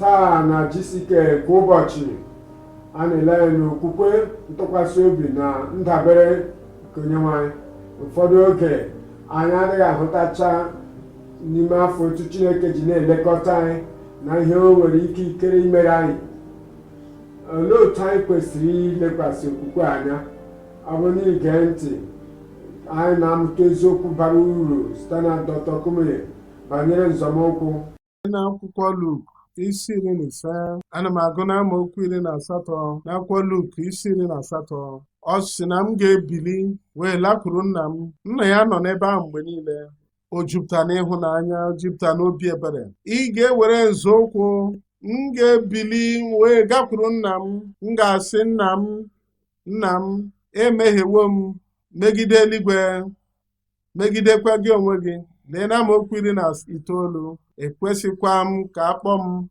taa na GCK kwa ụbọchị a na-ele anya n'okwukwe ntụkwasị obi na ndabere nke onyenwe anyị ụfọdụ oge anyị adịghị ahụtacha n'ime afọ otu chineke ji na-elekọta anyị na ihe o nwere ike ikere imere anyị olee otu anyị kwesịrị ilekwasị okwukwe anya ọ bụ n'ige ntị anyị na-amụta eziokwu bara uru site na Dr. Kumuyi banyere nzọmụkwụ n'akwụkwọ Luk isi iri na ise ana m agụ n'amaokwu iri na asatọ n'akwụkwọ Luk isi iri na asatọ ọ sị na m ga-ebili wee lakwuru nna m nna ya nọ n'ebe ahụ mgbe niile o jupụta n'ịhụnanya o jupụta n'obi ebere ị ga-ewere nzọụkwụ m ga-ebili wee gakwuru nna m m ga-asị nna m Nna m, emehiewo m megide eluigwe, megidekwa gị onwe gị. Lee na amaokwu iri na itoolu, ekwesịghịkwa m ka akpọ m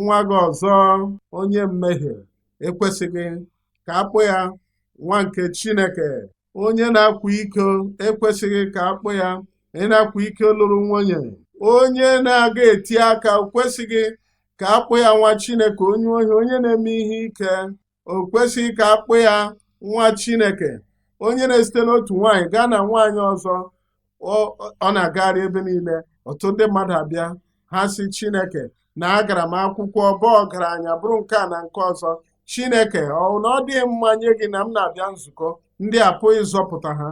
nwa gị ọzọ onye mmehie ekwesịghị ka akpọ ya nwa nke Chineke onye na-akwa iko ekwesịghị ka akpọ ya onye na-akwa iko lụrụ nwunye onye na-aga eti aka o kwesịghị ka akpọ ya nwa Chineke onye ohi onye na-eme ihe ike o kwesịghị ka akpọ ya nwa chineke onye na-esite n'otu nwaanyị gaa na nwaanyị ọzọ ọ na-agagharị ebe niile ọtụtụ ndị mmadụ abịa ha sị chineke na agara m akwụkwọ bụ ọgaranya bụrụ nke a na nke ọzọ chineke ọ bụ na ọ dịghị mma nye gị na m na-abịa nzukọ ndị a pụghị ịzọpụta ha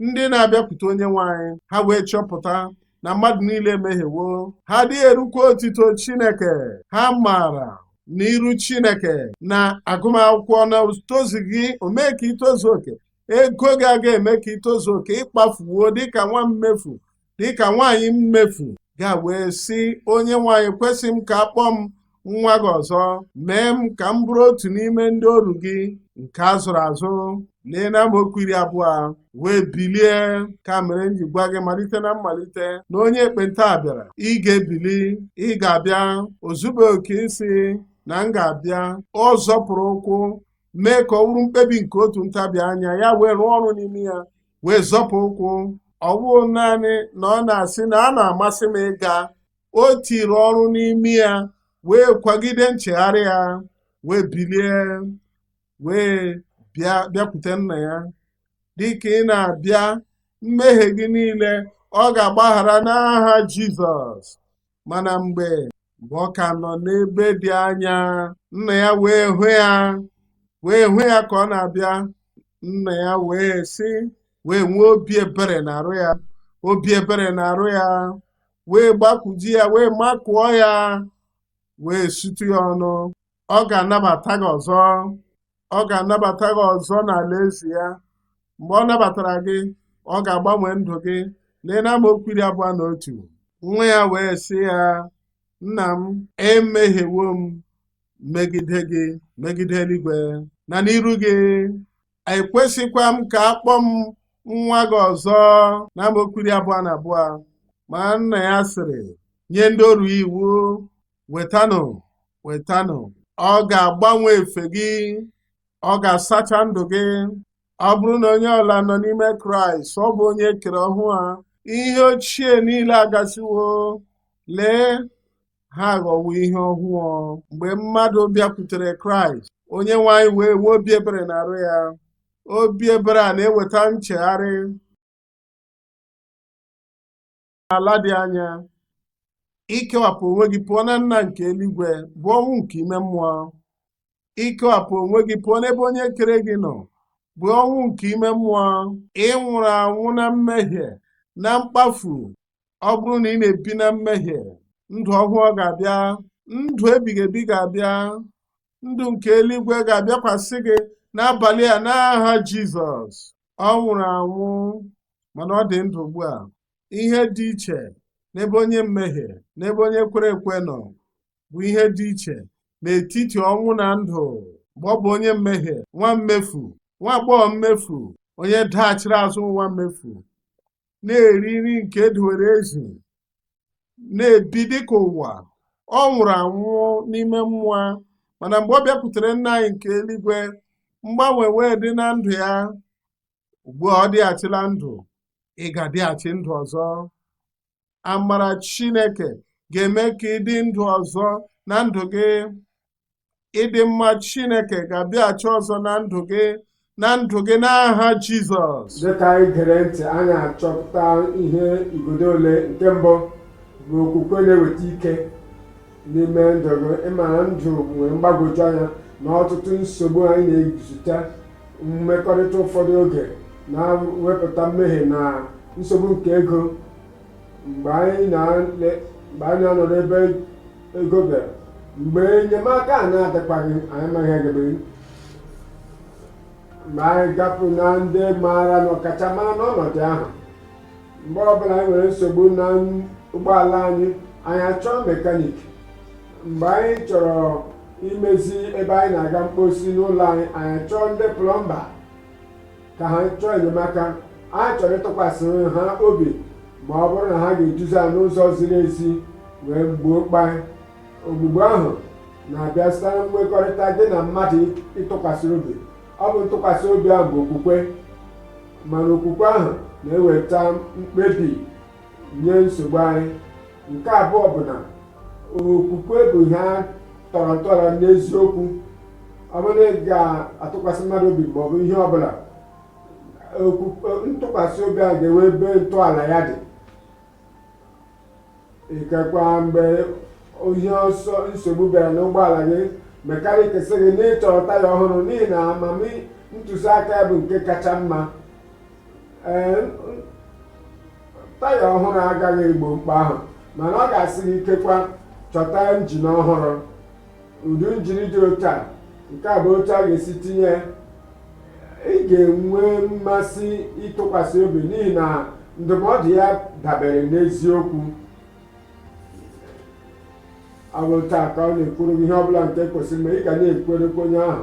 ndị na-abịakwute onye nwe anyị ha wee chọpụta na mmadụ niile emehiewo ha adịghị erukwa otuto Chineke ha maara n'iru Chineke na agụmakwụkwọ na o tozughị o mee ka i tozuo oke ego gị agaghị eme ka i tozuo oke ị kpafuwo dịka nwa mmefu dịka nwaanyị mmefu ga wee sị onye nwe anyị ekwesịghị m ka akpọ m nwa gị ọzọ mee m ka m bụrụ otu n'ime ndị oru gị nke a zụrụ azụ lee na amaokwu iri abụọ o wee bilie nke a mere m ji gwa gị malite na mmalite na onye ekpenta a bịara ị ga-ebili ị ga-abịa o zubeghị oke ịsị na m ga-abịa ọ zọpụrụ ụkwụ mee ka ọ bụrụ mkpebi nke otu ntabi anya ya wee rụọ ọrụ n'ime ya wee zọpụ ụkwụ ọ bụghị naanị na ọ na-asị na ọ na-amasị m ịga o tiri ọrụ n'ime ya wee kwagide nchegharị ya wee bilie wee bịa bịakwute nna ya dịka ị na-abịa mmehie gị niile ọ ga-agbaghara n'aha Jizọs mana mgbe mgbe ọ ka nọ n'ebe dị anya nna ya wee hụ ya wee hụ ya ka ọ na-abịa nna ya wee sị wee nwee obi ebere n'arụ ya obi ebere n'arụ ya wee gbakwuji ya wee makụọ ya wee sutu ya ọnụ ọ ga-anabata gị ọzọ ọ ga-anabata gị ọzọ n'alaeze ya mgbe ọ nabatara gị ọ ga-agbanwe ndụ gị lee na amaokwu iri abụọ na otu nwa ya wee sị ya nna m emehiewo m megide gị megide eluigwe na n'iru gị ekwesịkwa m ka a kpọọ m nwa gị ọzọ na amaokwu iri abụọ na abụọ ma nna ya sịrị nye ndị oru ya iwu wetanụ wetanụ ọ ga-agbanwe efe gị ọ ga-asacha ndụ gị ọ bụrụ na onye ọbụla nọ n'ime kraịst ọ bụ onye e kere ọhụụ ha ihe ochie niile agasịwo lee ha aghọwo ihe ọhụụ mgbe mmadụ bịakwutere kraịst onye nwe anyị wee nwee obi ebere n'arụ ya obi ebere a na-eweta nchegharị n'ala dị anya ikewapụ onwe gị pụọ na nna nke eluigwe bụ ọnwụ nke ime mmụọ ikewapụ onwe gị pụọ n'ebe onye kere gị nọ bụ ọnwụ nke ime mmụọ ị nwụrụ anwụ na mmehie na mkpafu ọ bụrụ na ị na-ebi na mmehie ndụ ọhụụ ga-abịa ndụ ebighị ebi ga-abịa ndụ nke eluigwe ga-abịakwasị gị n'abalị a n'aha Jizọs ọ nwụrụ anwụ mana ọ dị ndụ ugbu a ihe dị iche n'ebe onye mmehie n'ebe onye kwere ekwe nọ bụ ihe dị iche n'etiti ọnwụ na ndụ mgbe ọ bụ onye mmehie nwa mmefu nwa agbọghọ mmefu onye daghachiri azụ nwa mmefu na-eri nri nke e dowere ezi na-ebi dịka ụwa ọ nwụrụ anwụ n'ime mmụọ mana mgbe ọ bịakwutere nna anyị nke eluigwe mgbanwe wee dị na ndụ ya ugbu a ọ dịghachila ndụ ị ga-adịghachi ndụ ọzọ amara Chineke ga-eme ka ị dị ndụ ọzọ na ndụ gị ịdị mma Chineke ga-abịaghachi ọzọ na ndụ gị na ndụ gị n'aha Jizọs dịka anyị gere ntị anyị achọpụta ihe igodo ole nke mbụ bụ okwukwe na-eweta ike n'ime ndụ gị ị mara ndụ nwere mgbagwoju anya na ọtụtụ nsogbu anyị na-ezute mmekọrịta ụfọdụ oge na-ewepụta mmehie na nsogbu nke ego mgbe anyị na-ele- mgbe anyị na-anọ n'ebe ego bịara mgbe enyemaka na-adịkwaghị anyị amaghị ihe a ga-eme mgbe anyị gapụ na ndị maara na ọkachamara n'ọnọdụ ahụ mgbe ọbụla anyị nwere nsogbu na ụgbọala anyị anyị achọọ mekanik mgbe anyị chọrọ imezi ebe anyị na-aga mkposi n'ụlọ anyị anyị achọọ ndị plọmba ka ha chọọ enyemaka anyị chọrọ ịtụkwasị ha obi ma ọ bụrụ na ha ga-eduzi anyị n'ụzọ ziri ezi wee gboo mkpa anyị ogbugbo ahụ na-abịa site na nkwekọrịta gị na mmadụ ị tụkwasịrị obi ọ bụ ntụkwasị obi ahụ bụ okwukwe mana okwukwe ahụ na-eweta mkpebi nye nsogbu anyị nke abụọ bụ na okwukwe bụ ihe a tọrọ ntọala n'eziokwu ọ bụrụ na ị ga-atụkwasị mmadụ obi ma ọ bụ ihe ọbụla ntụkwasị obi ahụ ga-enwe ebe ntọala ya dị ikekwa mgbe ihe ọsọ nsogbu bịara n'ụgbọala gị mekanik sị gị na ị chọrọ taya ọhụrụ n'ihi na amamihe ntụziaka ya bụ nke kacha mma ee taya ọhụrụ agaghị egbo mkpa ahụ mana ọ ga-asị gị ikekwa chọta njin ọhụrụ ụdị njin dị otu a nke a bụ otu a ga-esi tinye ya ị ga-enwe mmasị ịtụkwasị obi n'ihi na ndụmọdụ ya dabere n'eziokwu ọ bụ otu a ka ọ na-ekwuru gị ihe ọ bụla nke kwesịrị mgbe ị ga na-ekwerekwa onye ahụ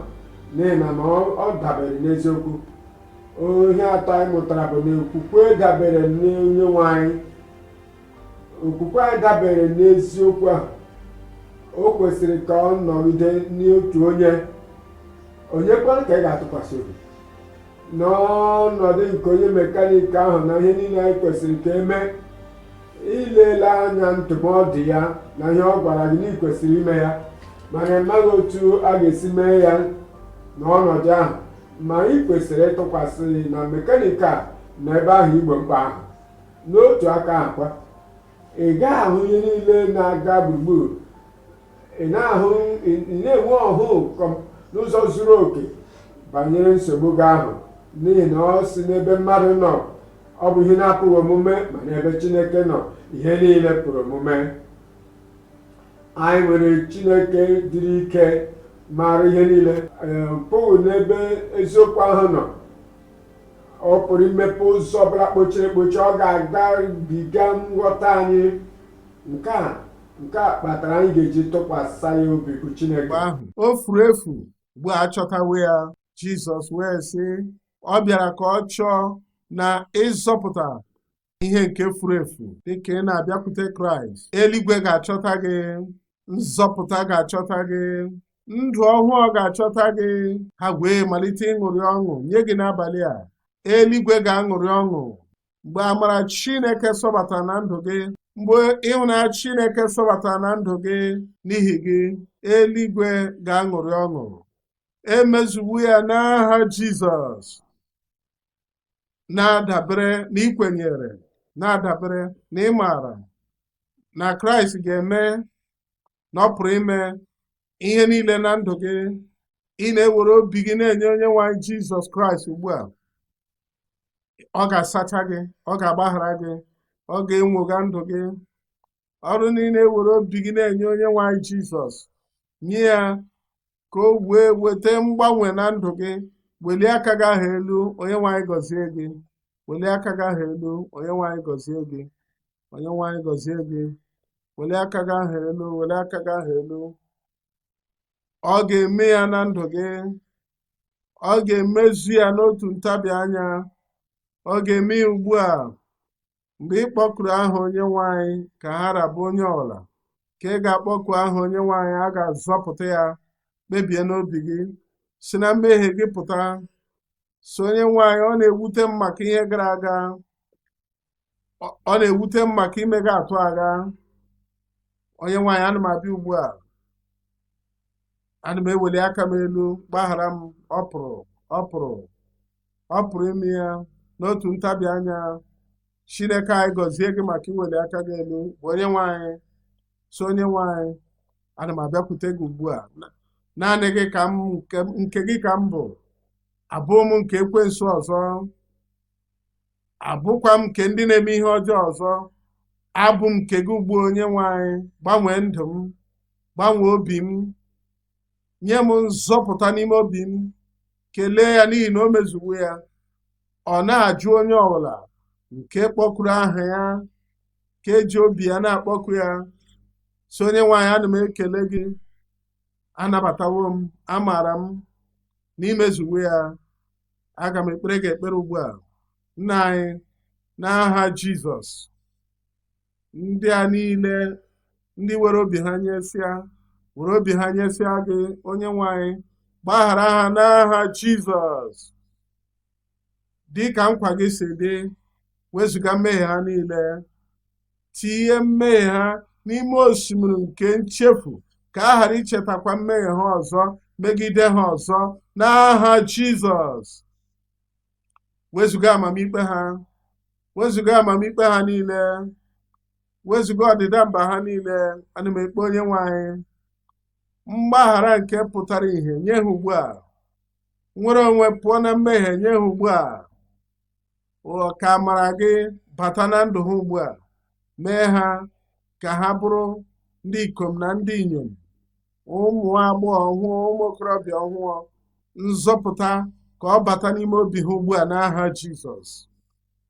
n'ihi na ma ọ ọ dabere n'eziokwu ihe atọ anyị mụtara bụ na okwukwe dabere n'onye nwe anyị okwukwe anyị dabere n'eziokwu ahụ o kwesịrị ka ọ nọgide n'otu onye onye kwanụ ka ị ga-atụkwasị obi n'ọnọdụ nke onye mekanik ahụ na ihe niile anyị kwesịrị ka e mee ilele anya ndụmọdụ ya na ihe ọ gwara gị na ị kwesịrị ime ya mana ị maghị otu a ga-esi mee ya n'ọnọdụ ahụ ma ị kwesịrị ịtụkwasị na mekanik a nọ ebe ahụ igbo mkpa ahụ N'otu aka ahụ kwa, ị gaghị ahụ ihe niile na-aga gburugburu. Ị na-ahụ ị na-enwe ọhụụ kọm- n'ụzọ zuru oke banyere nsogbu gị ahụ n'ihi na ọ sị n'ebe mmadụ nọ ọ bụ ihe na-apụghị omume ma n'ebe Chineke nọ ihe niile pụrụ omume. Anyị nwere Chineke dịrị ike maara ihe niile ee, pụghị n'ebe eziokwu ahụ nọ ọ pụrụ imepe ụzọ ọbụla kpochiri ekpochi ọ ga-agabiga nghọta anyị nke a nke a kpatara anyị ga-eji tụkwasị ya obi bụ Chineke mgbe ahụ o furu efu ugbu a achọtawo ya Jizọs wee sị ọ bịara ka ọ chọọ na ịzọpụta ihe nke furu efu dịka ị na-abịakwute Kraịst eluigwe ga-achọta gị nzọpụta ga-achọta gị ndụ ọhụụ ga-achọta gị ha wee malite ịṅụrị ọṅụ nye gị n'abalị a eluigwe ga-aṅụrị ọṅụ mgbe amara Chineke sọbatara na ndụ gị mgbe ịhụnanya Chineke sọbatara na ndụ gị n'ihi gị eluigwe ga-aṅụrị ọṅụ e mezuwo ya n'aha Jizọs na-adabere na i kwenyere na-adabere na ị maara na Kraịst ga-eme na ọ pụrụ ime ihe niile na ndụ gị ị na-ewere obi gị na-enye onye nwe anyị Jizọs Kraịst ugbu a ọ ga-asacha gị ọ ga-agbaghara gị ọ ga-enwogha ndụ gị ọ bụrụ na ị na-ewere obi gị na-enye onye nwe anyị jizọs nye ya ka o wee weta mgbanwe na ndụ gị welie aka gị ahụ elu onye nwe anyị gọzie gị welie aka gị ahụ elu onye nwe anyị gọzie gị onye nwe anyị gọzie gị welie aka gị ahụ elu welie aka gị ahụ elu ọ ga-eme ya na ndụ gị ọ ga-emezu ya n'otu ntabi anya ọ ga-eme ya ugbu a mgbe ị kpọkuru aha onye nwe anyị ka ha ra bụ onye ọbụla nke ga-akpọku aha onye nwe anyị a ga-azọpụta ya kpebie n'obi gị si na mmehie gị pụta sị onye nwe anyị ọ na-ewute m maka ihe gara aga ọ na-ewute m maka imega atụ agha onye nwe anyị ana m abịa ugbu a ana m eweli aka m elu gbaghara m ọ pụrụ ọ pụrụ ọ pụrụ ime ya n'otu ntabi anya chineke anyị gọzie gị maka iweli aka gị elu bụ onye nwe anyị sị onye nwe anyị ana m abịakwute gị ugbu a naanị gị ka m nke gị ka m bụ abụghị m nke ekwensu ọzọ abụkwaghị m nke ndị na-eme ihe ọjọọ ọzọ abụ m nke gị ugbu a onye nwe anyị gbanwee ndụ m gbanwee obi m nye m nzọpụta n'ime obi m kelee ya n'ihi na o mezuwo ya ọ naghị ajụ onye ọbụla nke kpọkuru aha ya nke ji obi ya na-akpọku ya sị onye nwe anyị ana m ekele gị anabatawo m amaara m na i mezuwo ya aga m ekpere gị ekpere ugbu a nna anyị n'aha jizọs ndị a niile ndị were obi ha nyesịa were obi ha nyesịa gị onye nwe anyị gbaghara ha n'aha jizọs dị ka nkwa gị si dị wezụga mmehie ha niile tinye mmehie ha n'ime osimiri nke nchefu ka a ghara ichetakwa mmehie ha ọzọ megide ha ọzọ n'aha Jizọs wezụga amamikpe ha wezụga amamikpe ha niile wezụga ọdịda mba ha niile ana m ekpe onye nwe anyị mgbaghara nke pụtara ihe nye ha ugbu a nnwere onwe pụọ na mmehie nye ha ugbu a ka amara gị bata na ndụ ha ugbu a mee ha ka ha bụrụ ndị ikom na ndị inyom ụmụ agbọghọ ọhụụ ụmụ okorobịa ọhụụ nzọpụta ka ọ bata n'ime obi ha ugbu a n'aha Jizọs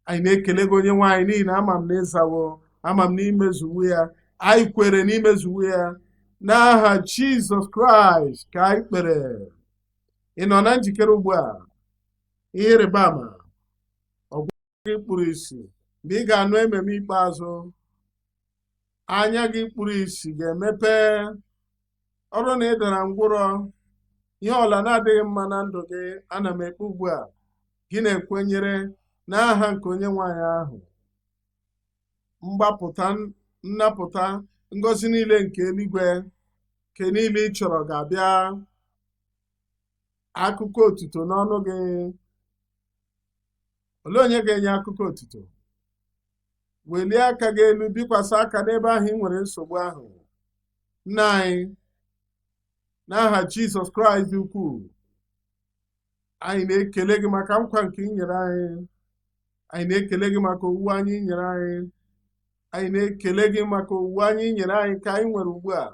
anyị na-ekele gị onye nwe anyị n'ihi na ama m na ị zawo ama m na i mezuwo ya anyị kwere na i mezuwo ya n'aha Jizọs Kraịst ka anyị kpere ị nọ na njikere ugbu a ihe ịrịba ama ọ wụ gị kpuru isi mgbe ị ga-anụ amen ikpeazụ anya gị kpuru isi ga-emepe ọ wụrụ na ị dara ngwụrọ ihe ọwụla na-adịghị mma na ndụ gị ana m ekpe ugbu a gị na-ekwenyere n'aha nke onye nwe anyị ahụ mgbapụta nnapụta ngọzi niile nke eluigwe nke niile ị chọrọ ga-abịa akụkọ otuto n'ọnụ gị olee onye ga-enye akụkọ otuto welie aka gị elu bikwasị aka n'ebe ahụ ị nwere nsogbu ahụ nna anyị n'aha Jizọs Kraịst dị ukwuu anyị na-ekele gị maka nkwa nke i nyere anyị anyị na-ekele gị maka owuwe anya i nyere anyị anyị na-ekele gị maka owuwe anya i nyere anyị nke anyị nwere ugbu a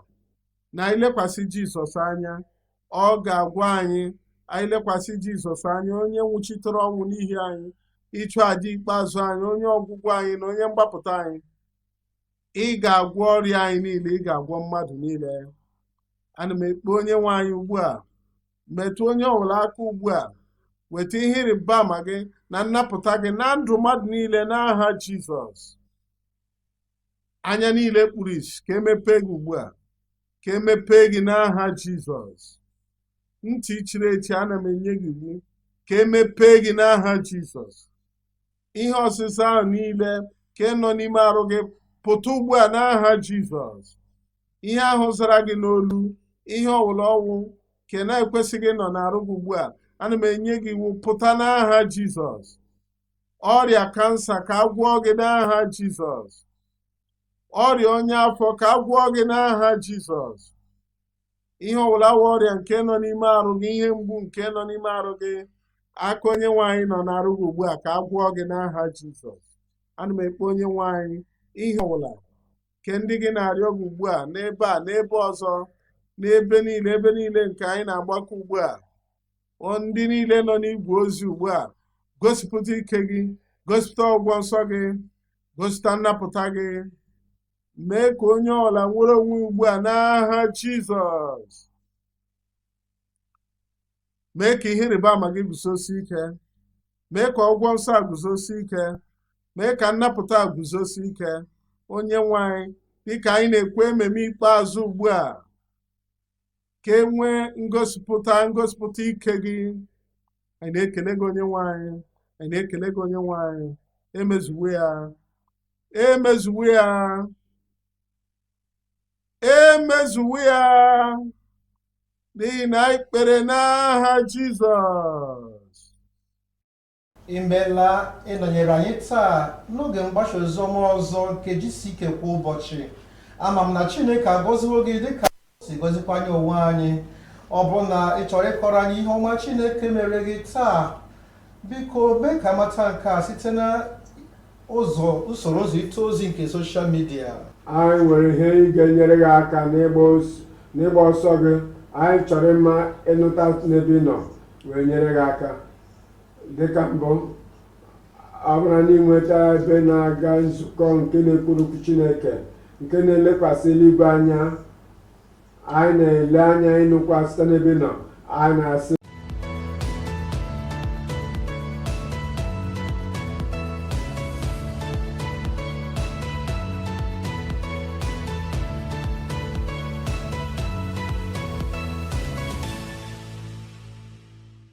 na anyị lekwasị Jizọs anya ọ ga-agwọ anyị anyị lekwasị Jizọs anya onye nwụchitere ọnwụ n'ihi anyị ịchụ aja ikpeazụ anyị onye ọgwụgwọ anyị na onye mgbapụta anyị ị ga-agwọ ọrịa anyị niile ị ga-agwọ mmadụ niile ana m ekpe onye nwe anyị ugbu a metụ onye ọbụla aka ugbu a weta ihe ịrịba ama gị na nnapụta gị na ndụ mmadụ niile n'aha Jizọs anya niile kpuru isi ka e mepee gị ugbu a ka e mepee gị n'aha Jizọs ntị chiri echi ana m enye gị iwu ka e mepee gị n'aha Jizọs ihe ọzịza ahụ niile nke nọ n'ime arụ gị pụta ugbu a n'aha jizọs ihe ahụ zara gị n'olu ihe ọwụla ọ wụ nke na-ekwesịghị ịnọ n'arụ gị ugbu a ana m enye gị iwu pụta n'aha jizọs ọrịa kansa ka a gwọọ gị n'aha jizọs ọrịa ọnya afọ ka a gwọọ gị n'aha jizọs ihe ọwụla wụ ọrịa nke nọ n'ime arụ gị ihe mgbu nke nọ n'ime arụ gị aka onye nwe anyị nọ n'arụ gị ugbu a ka a gwọọ gị n'aha jizọs ana m ekpe onye nwe anyị ihe ọwụla nke ndị gị na-arịọ gị ugbu a n'ebe a n'ebe ọzọ n'ebe niile ebe niile nke anyị na-agbakọ ugbu a ndị niile nọ n'igwe ozi ugbu a gosipụta ike gị gosipụta ọgwọ nsọ gị gosipụta nnapụta gị mee ka onye ọwụla nwere onwe ugbu a n'aha Jizọs mee ka ihe ịrịba ama gị guzosi ike mee ka ọgwọ nsọ a guzosi ike mee ka nnapụta a guzosi ike onye nwe anyị dịka anyị na-ekwe amen ikpeazụ ugbu a ka e nwee ngosipụta ngosipụta ike gị anyị na-ekele gị onye nwe anyị anyị na-ekele gị onye nwe anyị emezuwo ya emezuwo ya emezuwo ya n'ihi na anyị kpere n'aha Jizọs imeela ịnọnyere anyị taa n'oge mgbasa oziọma ọzọ nke GCK kwa ụbọchị ama m na chineke agọziwo gị dịka o si gọzikwa anyị onwe anyị ọ bụrụ na ị chọrọ ịkọrọ anyị ihe ọma chineke mere gị taa biko mee ka a mata nke a site na ụzọ usoro ụzọ izite ozi nke soshal midia anyị nwere ihe ndị ga-enyere gị aka n'ịgba os- n'ịgba ọsọ gị anyị chọrọ ịma ịnụta n'ebe ị nọ wee nyere gị aka dịka mbụ ọ bụrụ n'inweta ebe na-aga nzukọ nke na-ekwuru okwu chineke nke na-elekwasị eluigwe anya anyị na-ele anya ịnụkwa site n'ebe ị nọ anyị na-asị